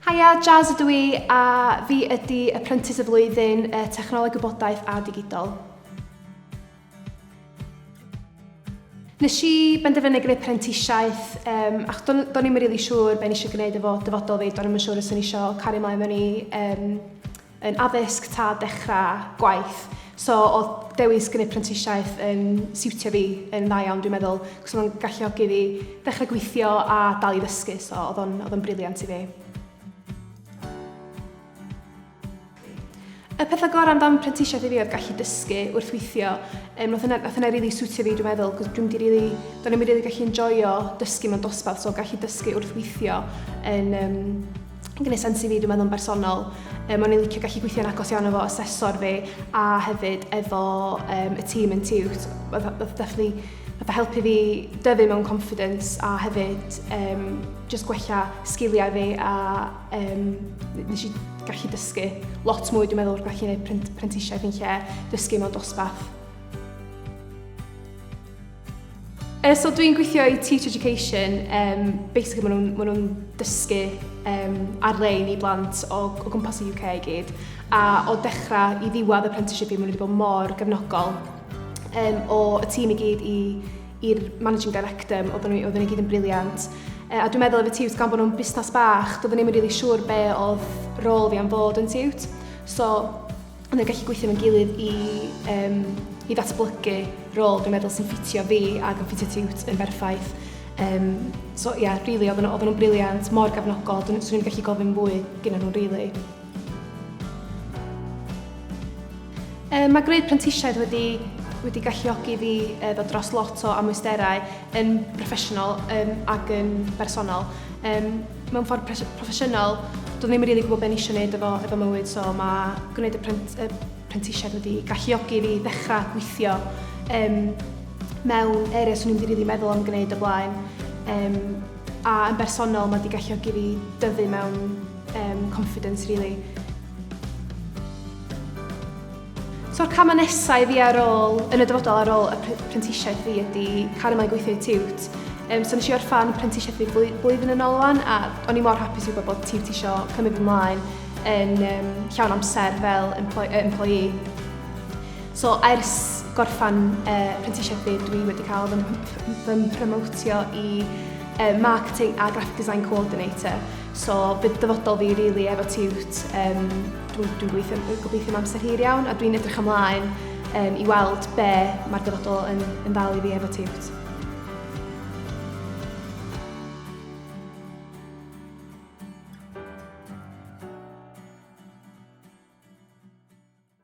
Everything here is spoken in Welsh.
Haia, Jazz ydw i a fi ydi Apprentice y Flwyddyn y Technoleg Gwybodaeth a Digidol. Nes i benderfynu gwneud prentisiaeth um, ac do'n, do'n i'm yn rili siŵr be nes i gwneud efo dyfodol fi, do'n i'm yn siŵr os o'n i eisiau cario mlaen mewn i um, yn addysg tad dechrau gwaith so oedd dewis gynnydd prentisiaeth yn siwtio fi yn dda iawn dwi'n meddwl cos o'n galluogi fi ddechrau gweithio a dal i ddysgu so oedd o'n oedd o'n briliant i fi. Y pethau gorau amdan prentisiaeth i fi oedd gallu dysgu wrth weithio. Um, oedd hynna'n hynna really siwtio fi dwi'n meddwl, cos dwi'n di really, do'n i'n really gallu enjoyo dysgu mewn dosbarth, so gallu dysgu wrth weithio yn, um, yn gwneud sens i fi dwi'n meddwl yn bersonol. Um, o'n i'n licio gallu gweithio'n agos iawn efo asesor fi a hefyd efo um, y tîm yn tiwt. Oedd definitely fatha helpu fi dyfu mewn confidence a hefyd um, just gwella sgiliau fi a um, nes i gallu dysgu lot mwy dwi'n meddwl wrth gallu gwneud prentisiaeth yn lle dysgu mewn dosbarth. So dwi'n gweithio i Teach Education, um, basically maen nhw'n ma nhw dysgu um, ar-lein i blant o, o gwmpas y UK i gyd. A o dechrau i ddiwedd apprenticeship i, maen nhw wedi bod mor gefnogol um, o y tîm i gyd i i'r managing director, oedden nhw, oedden nhw gyd yn briliant. E, a dwi'n meddwl efo Tiwt, gan bod nhw'n busnes bach, doedden ni'n mynd really siŵr be oedd rôl fi am fod yn Tiwt. So, Ond yn gallu gweithio mewn gilydd i, um, i ddatblygu rôl dwi'n meddwl sy'n ffitio fi ac yn ffitio tiwt yn berffaith. Um, so ie, yeah, really, oedden nhw'n briliant, mor gefnogol, dwi'n i'n gallu gofyn fwy gyda nhw'n really. Um, mae gwneud prentisiaid wedi wedi galluogi fi e, ddod dros lot o amwysterau yn broffesiynol um, ac yn bersonol. Um, mewn ffordd proffesiynol, doedd ddim yn rili gwybod beth eisiau gwneud efo, efo mywyd, so mae gwneud y, prent, y prentisiaid wedi galluogi fi ddechrau gweithio um, mewn areas o'n i'n wedi rili meddwl am gwneud y blaen. Um, a yn bersonol mae wedi galluogi fi dyfu mewn um, confidence, really. So'r camau nesaf i fi ar ôl, yn y dyfodol ar ôl y prentisiaeth fi ydy cario mlaen gweithio i tiwt. Um, so nes i orffan prentisiaeth fi blwyddyn yn ôl wan a o'n i mor hapus i wybod bod tiwt isio cymryd fy mlaen yn um, llawn amser fel employee. So ers gorffan uh, prentisiaeth fi, dwi wedi cael fy mhromotio i uh, Marketing a Graphic Design Coordinator. So bydd dyfodol fi rili really efo tiwt um, Dwi'n dwi'n gweithio, dwi'n gobeithio am amser hir iawn a dwi'n edrych ymlaen um, i weld be mae'r dyfodol yn, yn ddal i fi efo tiwt.